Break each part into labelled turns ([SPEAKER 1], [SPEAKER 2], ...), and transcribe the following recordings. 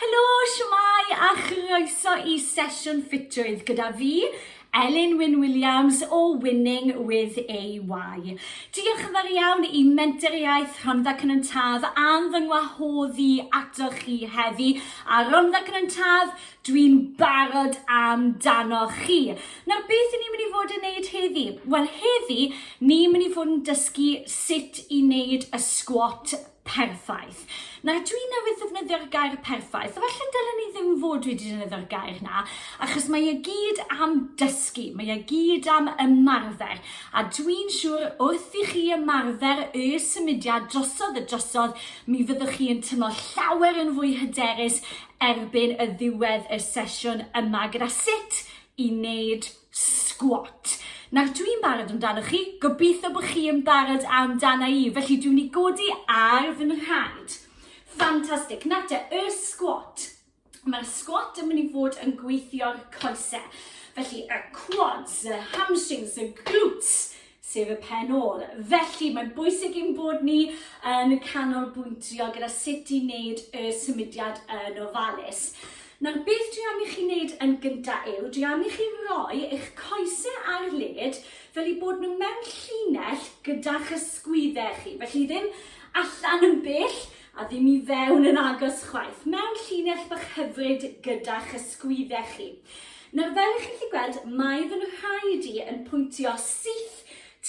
[SPEAKER 1] Helo, shwmae a chroeso i sesiwn ffitrwydd gyda fi, Elin Wyn Williams o Winning with AY. Diolch yn fawr iawn i Mentoriaeth Rhondda Cynon Taf am fy ngwahodd i ato chi heddi. A Rhondda Cynon Taf, dwi'n barod amdano chi. Nawr, beth i ni'n mynd i fod yn neud heddi? Wel, heddi, ni'n mynd i fod yn dysgu sut i wneud y squat perffaith. Nawr dwi newydd ddefnyddio'r gair perffaith, felly dylen ni ddim fod wedi defnyddio'r gair na, achos mae e gyd am dysgu, mae e gyd am ymarfer, a dwi'n siŵr wrth i chi ymarfer y symudiad drosodd y drosodd, mi fyddwch chi yn tymlo llawer yn fwy hyderus erbyn y ddiwedd y sesiwn yma gyda sut i wneud Sgwat. Nawr dwi'n barod amdanoch chi, gobeithio bod chi yn barod amdana i, felly dwi'n i godi ar fy nhraed. Ffantastig, nawr te, y sgwat. Mae'r sgwat yn mynd i fod yn gweithio'r coesau. Felly y quads, y hamstrings, y glutes, sef y pen ôl. Felly, mae'n bwysig i'n bod ni yn canolbwyntio gyda sut i wneud y symudiad yn ofalus. Nawr, beth dwi am i chi wneud yn gyntaf yw, dwi am i chi roi eich coesau ar led fel i bod nhw mewn llinell gyda'ch ysgwyddau chi. Felly ddim allan yn bell, a ddim i fewn yn agos chwaith, mewn llinell bach hyfryd gyda'ch ysgwyddau chi. Nawr, fel ych chi'n gallu gweld, mae fy nhraed i yn pwyntio syth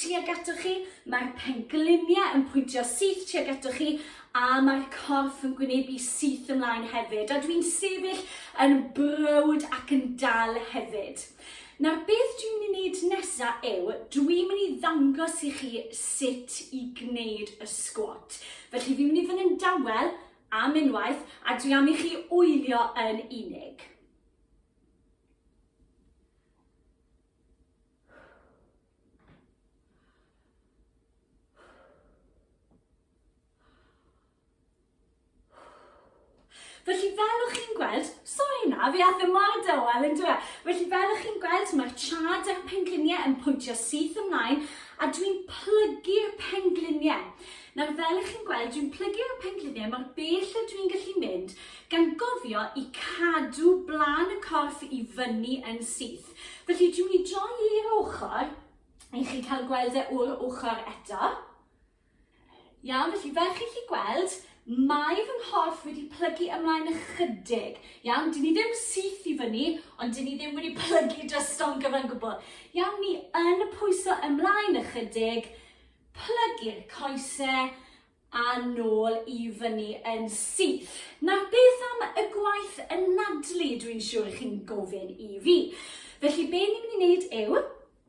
[SPEAKER 1] tuag atoch chi, mae'r pengliniau yn pwyntio syth tuag atoch chi, a mae'r corff yn gwynebu syth ymlaen hefyd, a dwi'n sefyll yn browd ac yn dal hefyd. Nawr beth dwi'n mynd i wneud nesa yw, dwi'n mynd i ddangos i chi sut i gwneud y sgwat. Felly fi'n mynd i fynd yn dawel am unwaith a dwi am i chi wylio yn unig. Felly fel o'ch chi'n gweld, sori na, fi ath ymlaen dywel yn dwe. Felly fel o'ch chi'n gweld, mae'r chad a'r pengliniau yn pwyntio syth ymlaen a dwi'n plygu'r pengliniau. Nawr fel o'ch chi'n gweld, dwi'n plygu'r pengliniau mor bell a dwi'n gallu mynd gan gofio i cadw blaen y corff i fyny yn syth. Felly dwi'n mynd i droi i'r ochr i chi cael gweld e o'r ochr eto. Iawn, felly fel chi'n chi gweld, mae fy nghorff wedi plygu ymlaen ychydig. Iawn, dyn ni ddim syth i fyny, ond dyn ni ddim wedi plygu drosto'n gyfan gwbl. Iawn, ni yn pwyso ymlaen ychydig, plygu'r coesau, a nôl i fyny yn syth. Nawr, beth am y gwaith yn nadlu dwi'n siŵr chi'n gofyn i fi? Felly, be ni'n mynd i wneud yw,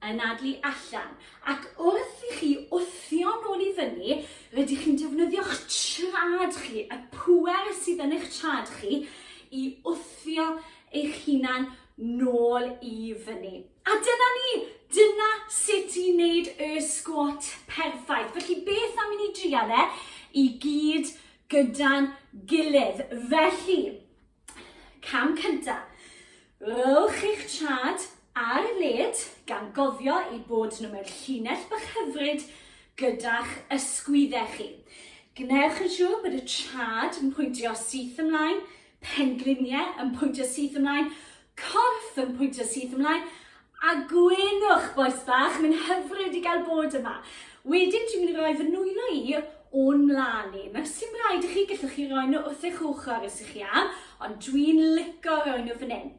[SPEAKER 1] anadlu allan. Ac wrth i chi wthio nôl i fyny, rydych chi'n defnyddio'ch trad chi, y pwer sydd yn eich trad chi, i wthio eich hunan nôl i fyny. A dyna ni, dyna sut i wneud y sgwat perffaith. Felly beth am i ni drial e i gyd gyda'n gilydd. Felly, Cam cyntaf. Rhowch eich trad ar y led gan gofio ei bod nhw mewn llinell bach hyfryd gyda'ch ysgwyddau chi. Gwnewch yn siŵr bod y trad yn pwyntio syth ymlaen, pengliniau yn pwyntio syth ymlaen, Corff yn pwyntio syth ymlaen. A gwenwch, bois bach, mae'n hyfryd i gael bod yma. Wedyn dwi'n mynd i roi fy nwylo i o'n mlaen i. Nawr, sy'n rhaid i chi, gallwch chi roi nhw wrth eich ochr os ych chi am, ond dwi'n lico roi nhw fan hyn.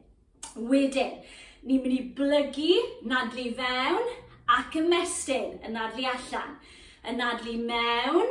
[SPEAKER 1] Wedyn, ni'n mynd i blygu, nadlu i fewn, ac ymestyn, yn nadlu allan. Yn nadlu mewn,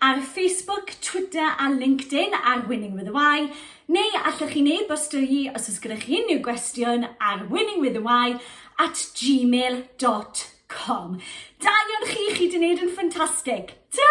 [SPEAKER 1] ar Facebook, Twitter a LinkedIn ar Winning with a Y, neu allwch chi'n e-bostio i os oes gyda chi unrhyw gwestiwn ar winningwithy at gmail.com. Da iawn chi, chi wedi gwneud yn ffantastig. Ta!